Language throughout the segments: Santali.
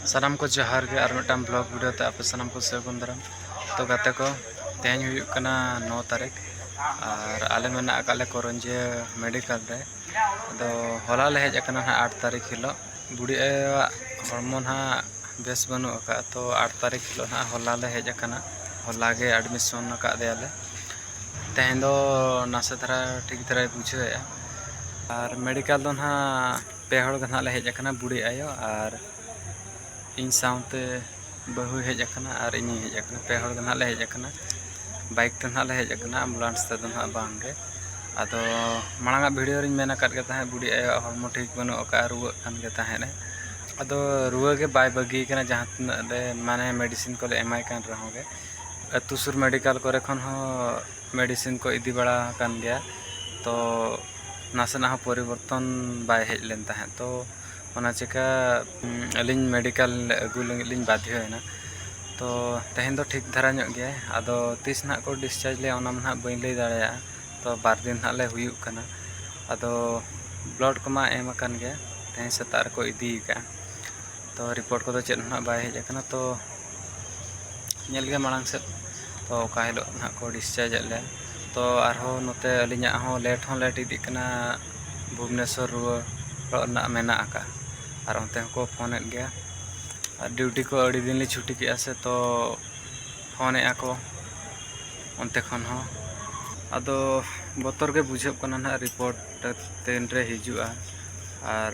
ᱥᱟᱱᱟᱢ ᱠᱚ ᱡᱚᱦᱟᱨ ᱜᱮ ᱟᱨ ᱢᱤᱫᱴᱟᱝ ᱵᱞᱚᱜ ᱵᱷᱤᱰᱤᱭᱳ ᱛᱮ ᱟᱯᱮ ᱥᱟᱱᱟᱢ ᱠᱚ ᱥᱟᱹᱜᱩᱱ ᱫᱟᱨᱟᱢ ᱛᱚ ᱜᱟᱛᱮ ᱠᱚ ᱛᱮᱦᱮᱧ ᱦᱩᱭᱩᱜ ᱠᱟᱱᱟ ᱱᱚ ᱛᱟᱹᱨᱤᱠᱷ ᱟᱨ ᱟᱞᱮ ᱢᱮᱱᱟᱜ ᱟᱠᱟᱫ ᱞᱮ ᱠᱚᱨᱚᱱᱡᱤᱭᱟᱹ ᱢᱮᱰᱤᱠᱟᱞ ᱨᱮ ᱟᱫᱚ ᱦᱚᱞᱟ ᱞᱮ ᱦᱮᱡ ᱟᱠᱟᱱᱟ ᱦᱟᱸᱜ ᱟᱴ ᱛᱟᱹᱨᱤᱠᱷ ᱦᱤᱞᱳᱜ ᱵᱩᱰᱷᱤ ᱟᱭᱳᱣᱟᱜ ᱦᱚᱲᱢᱚ ᱱᱟᱦᱟᱜ ᱵᱮᱥ ᱵᱟᱹᱱᱩᱜ ᱟᱠᱟᱫᱼᱟ ᱛᱚ ᱟᱴ ᱛᱟᱹᱨᱤᱠᱷ ᱦᱤᱞᱳᱜ ᱱᱟᱦᱟᱜ ᱦᱚᱞᱟ ᱞᱮ ᱦᱮᱡ ᱟᱠᱟᱱᱟ ᱦᱚᱞᱟ ᱜᱮ ᱮᱰᱢᱤᱥᱚᱱ ᱟᱠᱟᱫ ᱫᱮᱭᱟᱞᱮ ᱛᱮᱦᱮᱧ ᱫᱚ ᱱᱟᱥᱮ ᱫᱷᱟᱨᱟ ᱴᱷᱤᱠ ᱫᱷᱟᱨᱟᱭ ᱵᱩᱡᱷᱟᱹᱣᱮᱫᱼᱟ ᱟᱨ ᱢᱮᱰᱤᱠᱟᱞ ᱫᱚ ᱱᱟᱦᱟᱜ ᱯᱮ ᱦᱚᱲ ᱜᱮ ᱱᱟᱦᱟᱜ ᱞᱮ ᱦᱮᱡ ᱟᱠᱟᱱᱟ ᱵᱩᱰᱷᱤ ᱟᱭᱳ ᱟᱨ ᱤᱧ ᱥᱟᱶᱛᱮ ᱵᱟᱹᱦᱩᱭ ᱦᱮᱡ ᱟᱠᱟᱱᱟ ᱟᱨ ᱤᱧᱤᱧ ᱦᱮᱡ ᱟᱠᱟᱱᱟ ᱯᱮ ᱦᱚᱲ ᱜᱮ ᱱᱟᱦᱟᱜ ᱞᱮ ᱦᱮᱡ ᱟᱠᱟᱱᱟ ᱵᱟᱭᱤᱠ ᱛᱮ ᱱᱟᱦᱟᱜ ᱞᱮ ᱦᱮᱡ ᱟᱠᱟᱱᱟ ᱮᱢᱵᱩᱞᱮᱱᱥ ᱛᱮᱫᱚ ᱱᱟᱦᱟᱜ ᱵᱟᱝᱜᱮ ᱟᱫᱚ ᱢᱟᱲᱟᱝ ᱟᱜ ᱵᱷᱤᱰᱤᱭᱳ ᱨᱤᱧ ᱢᱮᱱ ᱟᱠᱟᱫ ᱜᱮ ᱛᱟᱦᱮᱸᱫ ᱵᱩᱰᱷᱤ ᱟᱭᱳᱣᱟᱜ ᱦᱚᱲᱢᱚ ᱴᱷᱤᱠ ᱵᱟᱹᱱᱩᱜ ᱟᱠᱟᱫᱼᱟ ᱨᱩᱣᱟᱹᱜ ᱠᱟᱱ ᱜᱮ ᱛᱟᱦᱮᱸᱫ ᱮ ᱟᱫᱚ ᱨᱩᱣᱟᱹ ᱜᱮ ᱵᱟᱭ ᱵᱟᱹᱜᱤ ᱟᱠᱟᱱᱟ ᱡᱟᱦᱟᱸ ᱛᱤᱱᱟᱹᱜ ᱞᱮ ᱢᱟᱱᱮ ᱢᱮᱰᱤᱥᱤᱱ ᱠᱚᱞᱮ ᱮᱢᱟᱭ ᱠᱟᱱ ᱨᱮᱦᱚᱸ ᱜᱮ ᱟᱹᱛᱩ ᱥᱩᱨ ᱢᱮᱰᱤᱠᱮᱞ ᱠᱚᱨᱮ ᱠᱷᱚᱱ ᱦᱚᱸ ᱢᱮᱰᱤᱥᱤᱱ ᱠᱚ ᱤᱫᱤ ᱵᱟᱲᱟ ᱟᱠᱟᱱ ᱜᱮᱭᱟ ᱛᱚ ᱱᱟᱥᱮᱱᱟᱜ ᱦᱚᱸ ᱯᱚᱨᱤᱵᱚᱨᱛᱚᱱ ᱵᱟᱭ ᱦᱮᱡ ᱞᱮᱱ ᱛᱟᱦᱮᱸᱫ ᱛᱚ ᱚᱱᱟ ᱪᱤᱠᱟᱹ ᱟᱹᱞᱤᱧ ᱢᱮᱰᱤᱠᱟᱞ ᱟᱹᱜᱩ ᱞᱟᱹᱜᱤᱫ ᱞᱤᱧ ᱵᱟᱫᱽᱫᱷᱚᱭᱮᱱᱟ ᱛᱚ ᱛᱮᱦᱮᱧ ᱫᱚ ᱴᱷᱤᱠ ᱫᱷᱟᱨᱟ ᱧᱚᱜ ᱜᱮᱭᱟᱭ ᱟᱫᱚ ᱛᱤᱥ ᱱᱟᱦᱟᱜ ᱠᱚ ᱰᱤᱥᱪᱟᱨᱡᱽ ᱞᱮᱭᱟ ᱚᱱᱟ ᱢᱟ ᱱᱟᱦᱟᱜ ᱵᱟᱹᱧ ᱞᱟᱹᱭ ᱫᱟᱲᱮᱭᱟᱜᱼᱟ ᱛᱚ ᱵᱟᱨ ᱫᱤᱱ ᱱᱟᱦᱟᱜ ᱞᱮ ᱦᱩᱭᱩᱜ ᱠᱟᱱᱟ ᱟᱫᱚ ᱵᱞᱟᱰ ᱠᱚᱢᱟ ᱮᱢ ᱟᱠᱟᱱ ᱜᱮᱭᱟ ᱛᱮᱦᱮᱧ ᱥᱮᱛᱟᱜ ᱨᱮᱠᱚ ᱤᱫᱤᱭᱮ ᱠᱟᱜᱼᱟ ᱛᱚ ᱨᱤᱯᱳᱨᱴ ᱠᱚᱫᱚ ᱪᱮᱫ ᱦᱚᱸ ᱵᱟᱭ ᱦᱮᱡ ᱟᱠᱟᱱᱟ ᱛᱚ ᱧᱮᱞ ᱜᱮ ᱢᱟᱲᱟᱝ ᱥᱮᱫ ᱛᱚ ᱚᱠᱟ ᱦᱤᱞᱳᱜ ᱱᱟᱦᱟᱜ ᱠᱚ ᱰᱤᱥᱪᱟᱨᱡᱽ ᱮᱫ ᱞᱮᱭᱟ ᱛᱚ ᱟᱨᱦᱚᱸ ᱱᱚᱛᱮ ᱟᱹᱞᱤᱧᱟᱜ ᱦᱚᱸ ᱞᱮᱴ ᱦᱚᱸ ᱞᱮᱴ ᱤᱫᱤᱜ ᱠᱟᱱᱟ ᱵᱷᱩᱵᱽᱱᱮᱥᱚᱨ ᱨᱩᱣᱟᱹᱲ ᱚᱲᱟᱜ ᱨᱮᱱᱟᱜ ᱢᱮᱱᱟᱜ ᱟᱠᱟᱫᱼᱟ ᱟᱨ ᱚᱱᱛᱮ ᱦᱚᱸᱠᱚ ᱯᱷᱳᱱᱮᱫ ᱜᱮᱭᱟ ᱟᱨ ᱰᱤᱭᱩᱴᱤ ᱠᱚ ᱟᱹᱰᱤ ᱫᱤᱱ ᱞᱤᱧ ᱪᱷᱩᱴᱤ ᱠᱮᱫᱼᱟ ᱥᱮ ᱛᱚ ᱯᱷᱳᱱᱮᱫᱼᱟ ᱠᱚ ᱚᱱᱛᱮ ᱠᱷᱚᱱ ᱦᱚᱸ ᱟᱫᱚ ᱵᱚᱛᱚᱨ ᱜᱮ ᱵᱩᱡᱷᱟᱹᱜ ᱠᱟᱱᱟ ᱱᱟᱦᱟᱜ ᱨᱤᱯᱳᱨᱴ ᱛᱤᱱ ᱨᱮ ᱦᱤᱡᱩᱜᱼᱟ ᱟᱨ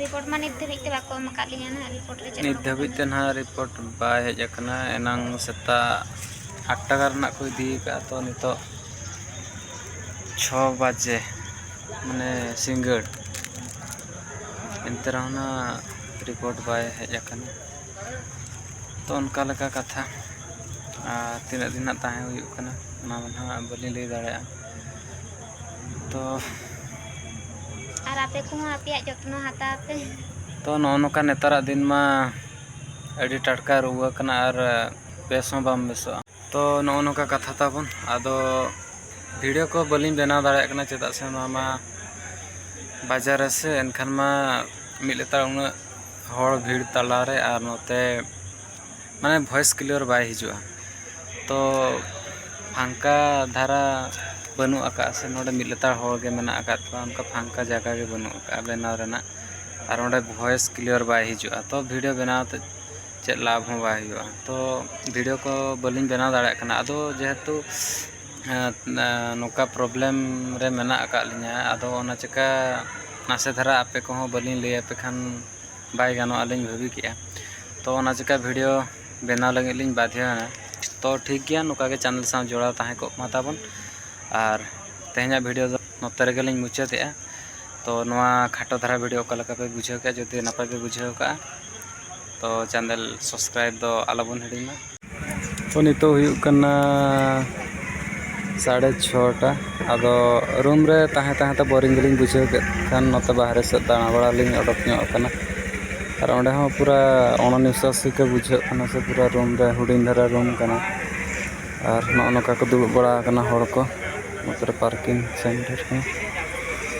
ᱨᱤᱯᱳᱨᱴ ᱢᱟ ᱱᱤᱛ ᱫᱷᱟᱹᱵᱤᱡ ᱛᱮ ᱵᱟᱠᱚ ᱮᱢ ᱟᱠᱟᱫ ᱞᱤᱧᱟ ᱱᱟᱦᱟᱜ ᱨᱤᱯᱳᱨᱴ ᱨᱮ ᱪᱮᱫ ᱱᱤᱛ ᱦᱚᱸ ᱫᱷᱟᱹᱵᱤᱡ ᱛᱮ ᱱᱟᱦᱟᱜ ᱨᱤᱯᱳᱨᱴ ᱵᱟᱭ ᱦᱮᱡ ᱟᱠᱟᱱᱟ ᱮᱱᱟᱝ ᱥᱮᱛᱟᱜ ᱟᱴ ᱴᱟᱠᱟ ᱨᱮᱱᱟᱜ ᱠᱚ ᱤᱫᱤ ᱟᱠᱟᱫᱼᱟ ᱛᱚ ᱱᱤᱛᱚᱜ ᱪᱷᱚ ᱵᱟᱡᱮ ᱢᱟᱱᱮ ᱥᱤᱸᱜᱟᱹᱲ ᱮᱱᱛᱮ ᱨᱮᱦᱚᱸ ᱱᱟᱦᱟᱜ ᱨᱤᱯᱳᱨᱴ ᱵᱟᱭ ᱦᱮᱡ ᱟᱠᱟᱱᱟ ᱛᱚ ᱚᱱᱠᱟ ᱞᱮᱠᱟ ᱠᱟᱛᱷᱟ ᱟᱨ ᱛᱤᱱᱟᱹᱜ ᱫᱤᱱ ᱱᱟᱦᱟᱜ ᱛᱟᱦᱮᱸ ᱦᱩᱭᱩᱜ ᱠᱟᱱᱟ ᱚᱱᱟ ᱢᱟ ᱱᱟᱦᱟᱜ ᱵᱟᱹᱞᱤᱧ ᱞᱟᱹᱭ ᱫᱟᱲᱮᱭᱟᱜᱼᱟ ᱛᱚ ᱟᱨ ᱟᱯᱮ ᱠᱚᱦᱚᱸ ᱟᱯᱮᱭᱟᱜ ᱡᱚᱛᱱᱚ ᱦᱟᱛᱟᱣ ᱯᱮ ᱛᱚ ᱱᱚᱜᱼᱚ ᱱᱚᱝᱠᱟ ᱱᱮᱛᱟᱨᱟᱜ ᱫᱤᱱ ᱢᱟ ᱟᱹᱰᱤ ᱴᱟᱴᱠᱟ ᱨᱩᱣᱟᱹ ᱠᱟᱱᱟ ᱟᱨ ᱵᱮᱥ ᱦᱚᱸ ᱵᱟᱢ ᱵᱮᱥᱚᱜᱼᱟ ᱛᱚ ᱱᱚᱜᱼᱚ ᱱᱚᱝᱠᱟ ᱠᱟᱛᱷᱟ ᱛᱟᱵᱚᱱ ᱟᱫᱚ ᱵᱷᱤᱰᱤᱭᱳ ᱠᱚ ᱵᱟᱹᱞᱤᱧ ᱵᱮᱱᱟᱣ ᱫᱟᱲᱮᱭᱟᱜ ᱠᱟᱱᱟ ᱪᱮᱫᱟᱜ ᱥᱮ ᱱᱚᱣᱟ ᱢᱟ ᱵᱟᱡᱟᱨ ᱨᱮ ᱥᱮ ᱮᱱᱠᱷᱟᱱ ᱢᱟ ᱢᱤᱫ ᱞᱮᱛᱟᱲ ᱩᱱᱟᱹᱜ ᱦᱚᱲ ᱵᱷᱤᱲ ᱛᱟᱞᱟᱨᱮ ᱟᱨ ᱱᱚᱛᱮ ᱢᱟᱱᱮ ᱵᱷᱚᱭᱮᱥ ᱠᱞᱤᱭᱟᱨ ᱵᱟᱭ ᱦᱤᱡᱩᱜᱼᱟ ᱛᱚ ᱯᱷᱟᱝᱠᱟ ᱫᱷᱟᱨᱟ ᱵᱟᱹᱱᱩᱜ ᱟᱠᱟᱫᱼᱟ ᱥᱮ ᱱᱚᱸᱰᱮ ᱢᱤᱫ ᱞᱮᱛᱟᱲ ᱦᱚᱲ ᱜᱮ ᱢᱮᱱᱟᱜ ᱟᱠᱟᱫ ᱠᱚᱣᱟ ᱚᱱᱠᱟ ᱯᱷᱟᱝᱠᱟ ᱡᱟᱭᱜᱟ ᱜᱮ ᱵᱟᱹᱱᱩᱜ ᱟᱠᱟᱫᱼᱟ ᱵᱮᱱᱟᱣ ᱨᱮᱱᱟᱜ ᱟᱨ ᱚᱸᱰᱮ ᱵᱷᱚᱭᱮᱥ ᱠᱞᱤᱭᱟᱨ ᱵᱟᱭ ᱦᱤᱡᱩᱜᱼᱟ ᱛᱚ ᱵᱷᱤᱰᱭᱳ ᱵᱮᱱᱟᱣ ᱛᱮ ᱪᱮᱫ ᱞᱟᱵᱷ ᱦᱚᱸ ᱵᱟᱭ ᱦᱩᱭᱩᱜᱼᱟ ᱛᱚ ᱵᱷᱤᱰᱭᱳ ᱠᱚ ᱵᱟᱹᱞᱤᱧ ᱵᱮᱱᱟᱣ ᱫᱟᱲᱮᱭᱟᱜ ᱠᱟᱱᱟ ᱟᱫᱚ ᱡᱮᱦᱮᱛᱩ ᱱᱚᱝᱠᱟ ᱯᱨᱚᱵᱞᱮᱢ ᱨᱮ ᱢᱮᱱᱟᱜ ᱟᱠᱟᱫ ᱞᱤᱧᱟᱹ ᱟᱫᱚ ᱚᱱᱟ ᱪᱤᱠᱟᱹ ᱱᱟᱥᱮ ᱫᱷᱟᱨᱟ ᱟᱯᱮ ᱠᱚᱦᱚᱸ ᱵᱟᱹᱞᱤᱧ ᱞᱟᱹᱭ ᱟᱯᱮ ᱠᱷᱟᱱ ᱵᱟᱭ ᱜᱟᱱᱚᱜᱼᱟ ᱞᱤᱧ ᱵᱷᱟᱹᱵᱤ ᱠᱮᱜᱼᱟ ᱛᱚ ᱚᱱᱟ ᱪᱤᱠᱟᱹ ᱵᱷᱤᱰᱭᱳ ᱵᱮᱱᱟᱣ ᱞᱟᱹᱜᱤᱫ ᱞᱤᱧ ᱵᱟᱫᱷᱭᱚᱭᱮᱱᱟ ᱛᱚ ᱴᱷᱤᱠ ᱜᱮᱭᱟ ᱱᱚᱝᱠᱟ ᱜᱮ ᱪᱮᱱᱮᱞ ᱥᱟᱶ ᱡᱚᱲᱟᱣ ᱛᱟᱦᱮᱸ ᱠᱚᱜ ᱢᱟ ᱛᱟᱵᱚᱱ ᱟᱨ ᱛᱮᱦᱮᱧᱟᱜ ᱵᱷᱤᱰᱭᱳ ᱫᱚ ᱱᱚᱛᱮ ᱨᱮᱜᱮ ᱞᱤᱧ ᱢᱩᱪᱟᱹᱫᱮᱜᱼᱟ ᱛᱚ ᱱᱚᱣᱟ ᱠᱷᱟᱴᱚ ᱫᱷᱟᱨᱟ ᱵᱷᱤᱰᱭᱳ ᱚᱠᱟ ᱞᱮᱠᱟ ᱯᱮ ᱵᱩᱡᱷᱟᱹᱣ ᱠᱮᱜᱼᱟ ᱡᱩᱫᱤ ᱱᱟᱯᱟᱭ ᱯᱮ ᱵᱩᱡᱷᱟᱹᱣ ᱠᱟᱜᱼᱟ ᱛᱚ ᱪᱮᱱᱮᱞ ᱥᱟᱵᱥᱠᱨᱟᱭᱤᱵᱽ ᱫᱚ ᱟᱞᱚ ᱵᱚᱱ ᱦᱤᱲᱤᱧ ᱢᱟ ᱛᱚ ᱱᱤᱛᱚᱜ ᱦᱩᱭᱩᱜ ᱠᱟᱱᱟ ᱥᱟᱲᱮ ᱪᱷᱚᱴᱟ ᱟᱫᱚ ᱨᱩᱢ ᱨᱮ ᱛᱟᱦᱮᱸ ᱛᱟᱦᱮᱸ ᱛᱮ ᱵᱳᱨᱤᱝ ᱜᱮᱞᱤᱧ ᱵᱩᱡᱷᱟᱹᱣ ᱠᱮᱫ ᱠᱷᱟᱱ ᱱᱚᱛᱮ ᱵᱟᱦᱨᱮ ᱥᱮᱫ ᱫᱟᱬᱟ ᱵᱟᱲᱟ ᱞᱤᱧ ᱚᱰᱚᱠ ᱧᱚᱜ ᱟᱠᱟᱱᱟ ᱟᱨ ᱚᱸᱰᱮ ᱦᱚᱸ ᱯᱩᱨᱟᱹ ᱚᱱᱚ ᱱᱤᱥᱥᱟᱥ ᱜᱮ ᱵᱩᱡᱷᱟᱹᱜ ᱠᱟᱱᱟ ᱥᱮ ᱯᱩᱨᱟᱹ ᱨᱩᱢ ᱨᱮ ᱦᱩᱰᱤᱧ ᱫᱷᱟᱨᱟ ᱨᱩᱢ ᱠᱟᱱᱟ ᱟᱨ ᱱᱚᱜᱼᱚ ᱱᱚᱝᱠᱟ ᱠᱚ ᱫᱩᱲᱩᱵ ᱵᱟᱲᱟ ᱟᱠᱟᱱᱟ ᱦᱚᱲ ᱠᱚ ᱱᱚᱛᱮᱨᱮ ᱯᱟᱨᱠᱤᱝ ᱥᱮᱱᱴᱟᱨ ᱠᱚ